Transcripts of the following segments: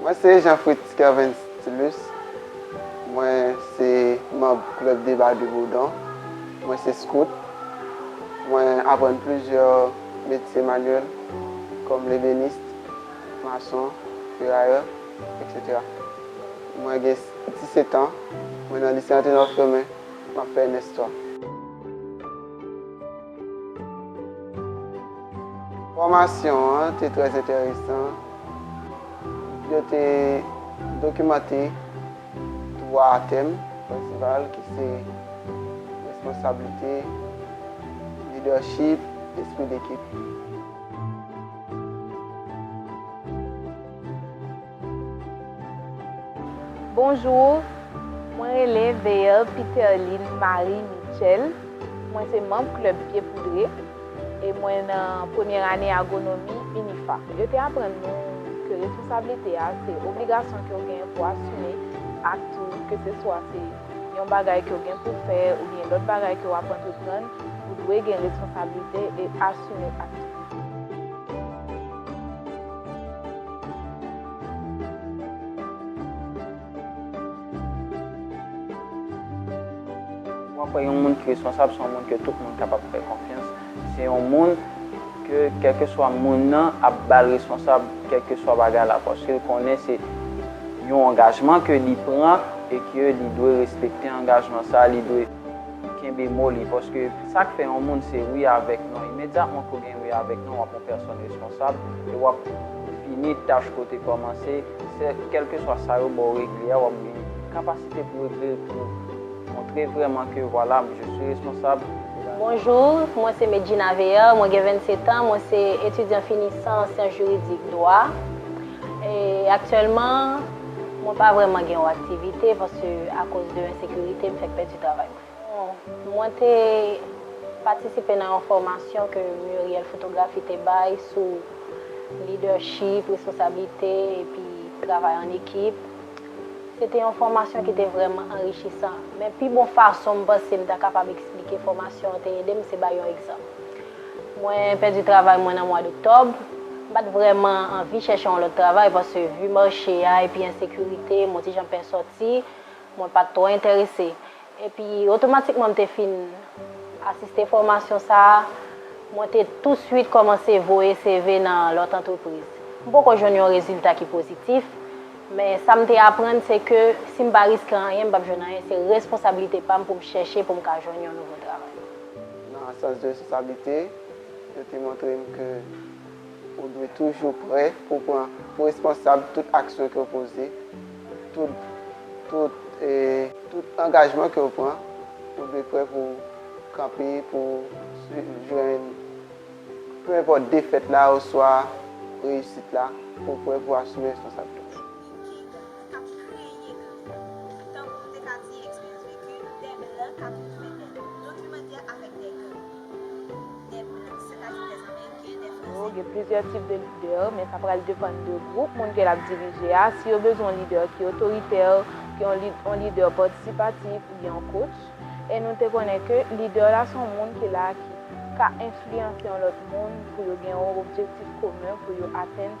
Mwen se Jean Fritz Kervens Tilus, mwen se manb Club de Bas de Bourdon, mwen se Scout, mwen aprann plizyè metye manyèl kòm lebenist, mason, ferayè, etc. Mwen gen 17 an, mwen nan lise Anténor Firmin, map fè ms 3. Fòmasyon an te trè enteresan. Yo te dokimante twa tèm prensipal ki se responsablite, lidèchip, espri dekip. Bonjour Mwen rele Veer Piterline Marie Mitchell Mwen se manb klèb pye poudre e mwen nan premyè ane agronomi UNIFA. Yo te aprann nou ke responsablite a se obligasyon ke w genyen pou asime ak tou ke se swa se yon bagay ke w gen pou w fè oubyen lòt bagay ke w ap antreprann ou dwe gen responsablite e asime ak tou. Mwen kwè yon moun ki responsab se yon moun ke tout moun kapab fè konfyans. Se yon moun ke kèlkeswa moun nan ap ba l responsab kèlkeswa bagay la paske l konnen se yon angajman ke li pran e ke li dwe respekte angajman sa a. Kenbe mo li, paske sa k fè yon moun se wi avèk non, imedyatman ke w gen wi avèk non, w ap yon pèsòn responsab e w ap fini tach ke w te kòmanse, sè kèlkeswa sa yo ba w regle a, w ap gen kapasite pou w regle l, pou w montre vrèman ke vwala, je suis responsable. Bonjour, mwen se Met Gina Veer, mwen gen 27 ans, mwen se etidyan finisan an syans jiridik, dwa, e aktyèlman. Mwen pa vrèman gen yon aktivite paske akoz de ensekirite m fèk pèdi travay mwen. Mwen te patisipe nan yon fòmasyon ke Muriel Fotografi te bay sou lidèchip, responsablite epi travay an ekip. Se te yon fòmasyon ki te vrèman anrichisan. Men pi bon fason m panse m ta kapab eksplike fòmasyon an te ede m se bay yon egzanp. Mwen pèdi travay mwen nan mwa d'oktòb. M pa t vrèman anvi chèche yon lòt travay paske vi mache a epi ensekirite, mo ti jan pè sòti, mwen pa t twò enterese. Epi otomatikman m te fin asiste fòmasyon sa a, mwen te tousuit kòmanse voye CV nan lòt antrepriz. M poko jwenn yon rezilta ki pozitif, men sa m te aprann se ke si m pa riske anyen m p ap jwenn anyen, se responsablite pa m pou m chèche pou m ka jwenn yon nouvo travay. Nan sans de responsablite, yo te montre m ke ou dwe toujou prè pou w pran pou responsab tout aksyon ke w poze, tout tout e tout angajman ke w pran, ou dwe prè pou w kanpe pou w swiv jwenn peu importe defèt la oswa reyisit la, pou w prè pou w asime responsabilite w. Ki dan k ap kreye gri? Tankou nou te ka di eksperyans veki, dè blan k ap fè dè dokimantè avèk dè gri. Dè blan, sètadi dè ameriken, dè franse. Gen plizyè tip de lidè, men sa pral depann de gwoup moun ke l ap dirije a. Si yo bezwen yon lidè ki otoritè, ki yon lidè patisipatif oubyen yon coach. E nou te konnen ke lidè la se yon moun ki la ki ka enfliyanse yon lòt moun pou yo gen yon objektif komen pou yo atenn.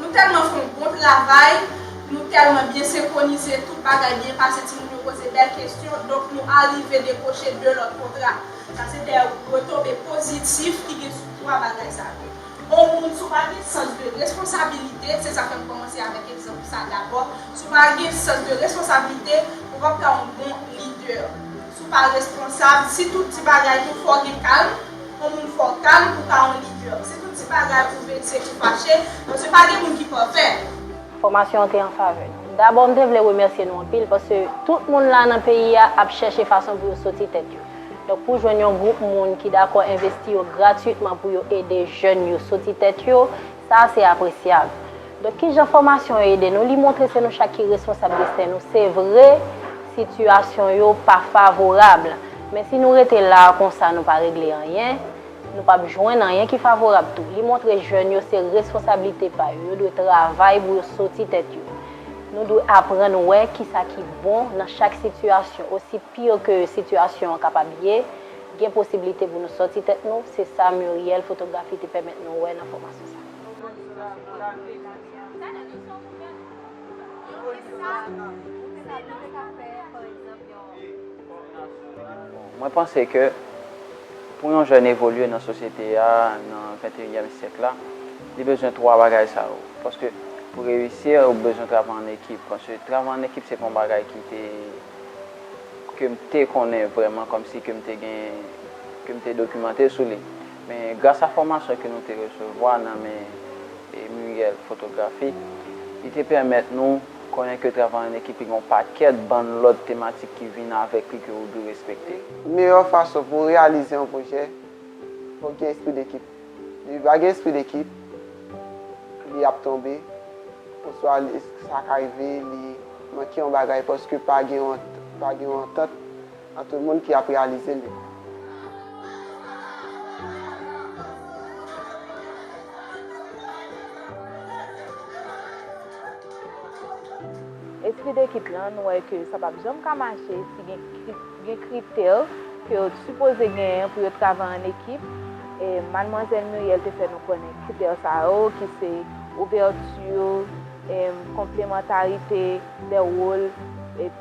Nou tèlman fè yon bon travay, nou tèlman byen senkwonize, tout bagay byen pase, timoun yo poze bèl kesyon, donk nou arive dekwoche 2 lòt kontra. Sa se 2 retonbe pozitif ki gen sou 3 bagay sa yo. On moun si w pa gen sans de responsabilite, se sa fè m kòmanse avèk egzanp sa dabò, si w pa gen sans de responsabilite, ou p ap ka yon bon lidè. Tou pa responsab, si tout ti bagay tou fò gen kalm, on moun fò kalm pou ka on lidè. Si tout ti bagay ou vekse ou fache, paske pa gen moun ki pafè. Fòmasyon an te an favè nou. Dabò m te vle remèsye nou anpil paske tout moun la nan peyi a ap chèche fason pou yo soti tèt yo. Donk pou jwenn yon gwoup moun ki dakò envesti yo gratwitman pou yo ede jèn yo soti tèt yo, sa a se apresyab. Donk ki jan fòmasyon yo ede nou? Li montre se nou chak ki responsab desten nou. Se vre, sitiyasyon yo pa favorab, men si nou rete la a konsa nou pa regle anyen, nou pap jwenn anyen ki favorab tou. Li montre jèn yo se responsablite pa yo, yo dwe travay pou yo soti tèt yo. Nou dwe aprann wè ki sa ki bon nan chak sitiyasyon. Osi pire ke sitiyasyon an kapab ye, gen posiblite pou nou soti tèt nou, se sa Muriel Fotografi te pèmèt nou wè nan fòmasyon sa. Mwen panse ke pou yon jèn evolye nan sosyete a, nan venteyinyèm syèk la, li bezwen 3 bagay sa yo. Paske pou reyisi, ou bezwen travay an ekip. Paske travay an ekip se pa yon bagay ki te, ke m te konnen vrèman, kòmsi ke m te gen, ke m te dokimante sou li. Men, gras a fòmasyon ke nou te resevwa nan men Muriel Fotografi, li te pèmèt nou konnen ke travay an ekip li gen yon pakèt bann lòt tematik ki vin avèk li ke ou dwe respekte. Meyè fason pou reyalize yon pwojè, fòk gen espri dekip. Depi pa gen espri dekip, li ap tonbe, oswa sa ka rive li manke yon bagay paske pa gen yon antant. A tout moun ki ap realize li. Espri dekip lan nou wè ke sa pap janm ka mache si gen kritè ke yo t sipoze genyen pou yo travay an ekip e Madmwazèl Muriel te fè nou konnen kritè sa yo ki se ouvèti, konplemantarite de wol.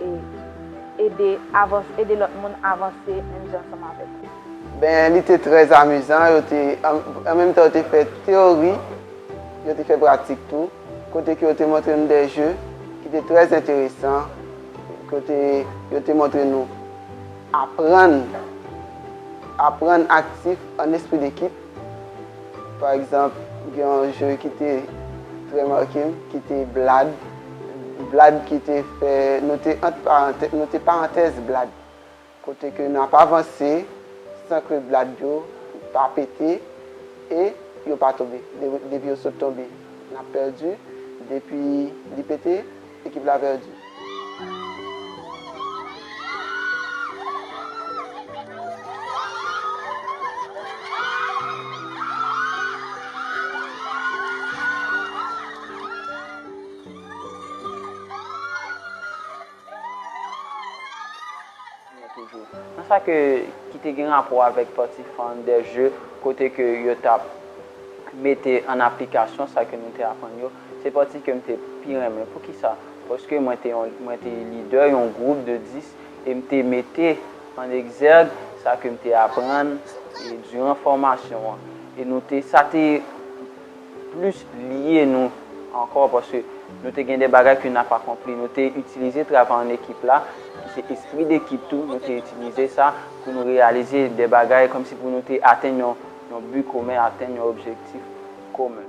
E ede avans, ede lòt moun avanse menm jan ansanm avèk ou. Ben li te trè amizan, yo te, an menm tan yo te fè teori, yo te fè pratik tou, kote ke yo te montre nou dè jeu ki te trè enteresan, kote yo te montre nou aprann, aprann aktif an espri dekip. Pa egzanp, gen yon jeu ki te trè make m, ki te blad. Blad ki te fè, nou te ant parantèz, nou te parantèz blad. Kote ke n ap avanse san ke blad yo pa pete e yo pa tonbe. Depi yo sot tonbe, n ap pèdi. Depi li pete, ekip la pèdi. Kounya toujou nan sa ke ki te gen rapò avèk pati fan dè je kote ke yo t ap mete an aplikasyon sa ke nou te aprann yo, se pati ke m te pi renmen. Poukisa? Paske mwen te yon mwen te lidè yon gwoup de 10 e m te mete an egzèg sa ke m te aprann diran fòmasyon an e nou te sa te. plis liye nou ankò paske nou te gen de bagay ke n ap akonpli. Nou te itilize travay an ekip la, ki se espri dekip tou, nou te itilize sa pou nou reyalize de bagay kòmsi pou nou te atenn yon bi komen, atenn yon objektif komen.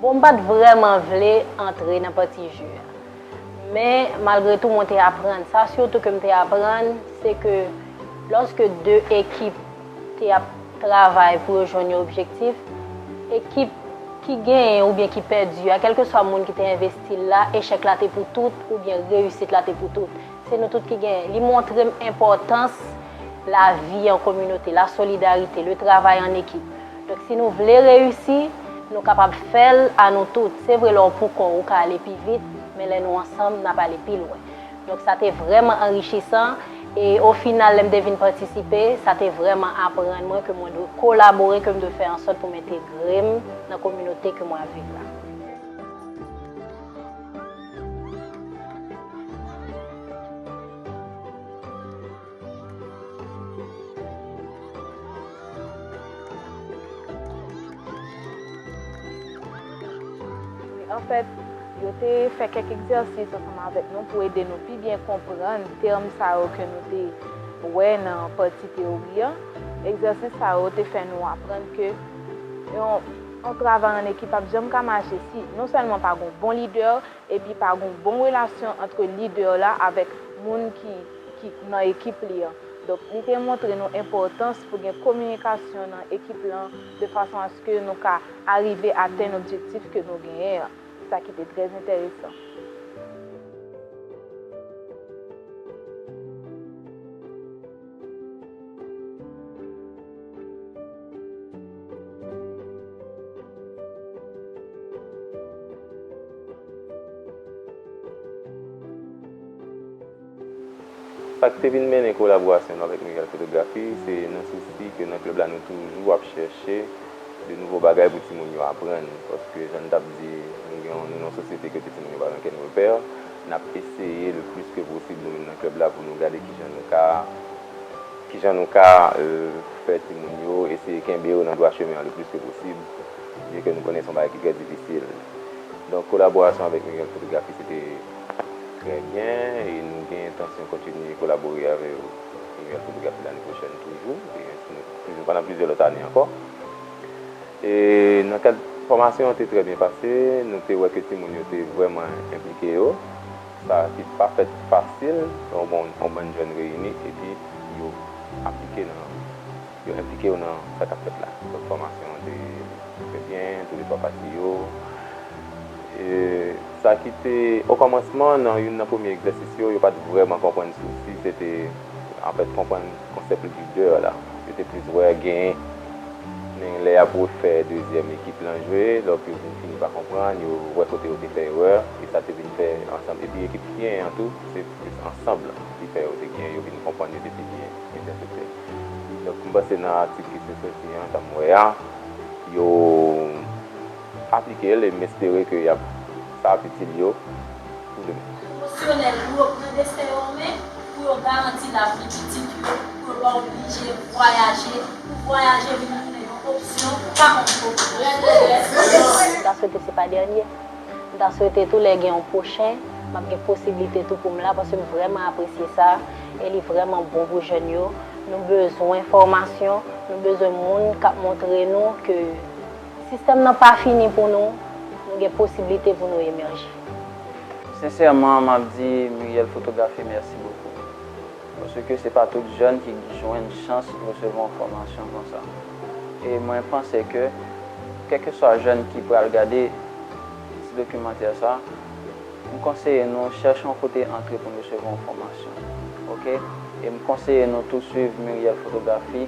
Bon m pat vrèman vle antre nan pati ju a. Men malgre tou mwen te aprann. Sa sitou ke m te aprann se ke lòske 2 ekip te ap travay pou yo jwenn yon objektif, ekip ki genyen oubyen ki pèdi a, kèlkeswa moun ki te envesti l la, echèk la te pou tout oubyen reyisit la te pou tout. Se nou tout ki gen. Li montre m enpòtans lavi an kominote, la solidarite, le travay an ekip. Donk si nou vle reyisi, nou kapab fè l a nou tout. Se vre lè w pou kò w, ou ka ale pi vit, men lè nou ansanm, n ap ale pi lwen. Donk sa te vrèman anrichisan e o final lè m te vin patisipe, sa te vrèman aprann mwen ke mwen dwe kolabore, ke m dwe fè an sòt pou m entegre m nan kominote ke mwen ap viv la. An fèt, yo te fè kèk egzèsis ansanm avèk nou pou ede nou pi byen konprann tèm sa yo ke nou te wè nan pati teyori an. Egzèsis sa yo te fè nou aprann ke yon. Yon travay an ekip pap janm ka mache si non sèlman pa gon bon lidè epi pa gon bon relasyon antre lidè la avèk moun ki ki nan ekip li an. Donk li te montre nou enpòtans pou gen kominikasyon nan ekip lan de fason aske nou ka arive atenn objektif ke nou genyen an. Sa ki te trè enteresan. Sa k te vin mennen kolaborasyon nou avèk Miguel Fotografi, se nan sousi ke nan klèb la nou toujou ap chèche de nouvo bagay pou timoun yo aprann. Paske jan n t ap di, nou gen yon, nou nan yon sosyete kote timoun yo pa gen okenn repè. N ap eseye le plis ke posib nou menm nan klèb la pou nou gade kijan nou ka kijan nou ka fè timoun yo eseye kenbe yo nan dwa chemen an le plis ke posib byen ke nou konnen se yon bagay ki trè difisil. Donk kolaborasyon avèk Miguel Fotografi se te trè byen e nou gen entansyon kontinye kolabore avè Miguel Fotografi lane pwochèn toujou e ensi nou toujou pandan plizyè lòt ane ankò. E nan kad fòmasyon an te trè byen pase, nou te wè ke timoun yo te vrèman enplike yo, sa ki pa fèt fasil, yon bann jèn reyini epi yo aplike nan, yo enplike yo nan sa kap fèt la. Donk fòmasyon an te trè byen, tou le twa pati yo. E sa ki te, o kòmansman nan youn nan premye egzèsis yo, yo pat vrèman konprann sousi se te, anfèt konprann konsèp leader la. Yo te plis wè gen. Men lè yap refè dezyèm ekip lan jwe, lòk yo vin fini pa konprann, yo wè kote yo te fè erè, e sa te vin fè ansanm epi ekip Syen an tou se plis ansanm lan ki fè yo te gen yo vin konprann yo te pi byen entèprete. Donk m panse nan atik ki sot soti an sa m wè a yo. Aplike l e m espere ke yap sa ap itil yo pou demen. Emosyonèl pou yo pran desten yo an men, pou yo garanti lavni pitit yo, pou yo pa oblije vwayaje, pou vwayaje vin tounen yon opsyon, pa yon pwoblèm. M ta swete se pa dènye. M ta swete tou lè gen yon pwochen, m ap gen posiblite tou pou m la paske m vrèman apresye sa e li vrèman bon pou jèn yo. Nou bezwen fòmasyon, nou bezwen moun k ap montre nou ke. Sistèm nan pa fini pou nou, nou gen posiblite pou nou emèje. Sensèman map di Muriel Fotografi mèsi bokou. Paske se pa tout jèn ki k jwenn chans resevwa yon fòmasyon konsa. E mwen panse ke kèlkeswa jèn ki pral gade ti dokimantè sa, M konseye nou chèche yon kote antre pou n resevwa yon fòmasyon ok e m konseye nou tou swiv Muriel Photographie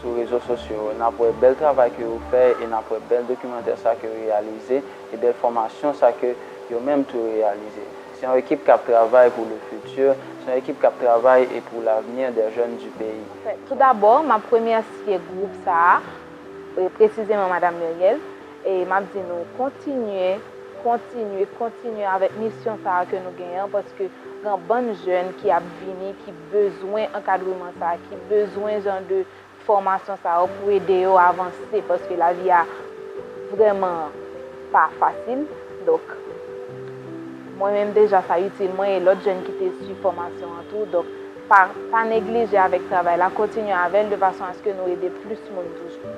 sou rezo sosyo yo nap wè bèl travay ke yo fè e nap wè bèl dokimantè sa ke yo reyalize e bèl fòmasyon sa ke yo menm tou yo reyalize se yon ekip kap travay pou le futur se yon ekip kap travay e pou l'avenir des jeunes du pays. Tout dabò map remèsye gwoup sa a e presizeman madam Muriel. E m ap di nou, kontinye, kontinye, kontinye avèk misyon sa a ke nou genyen an, paske gen yon bann jèn ki ap vini ki bezwen ankadreman sa a, ki bezwen jan de fòmasyon sa yo pou ede yo avanse, paske lavi a vrèman pa fasil. Donk, mwen menm deja sa itil mwen e lòt jèn ki te suiv fòmasyon an tou. Donk, pa neglije avèk travay la, kontinye avè l de fason aske nou ede plis moun toujou.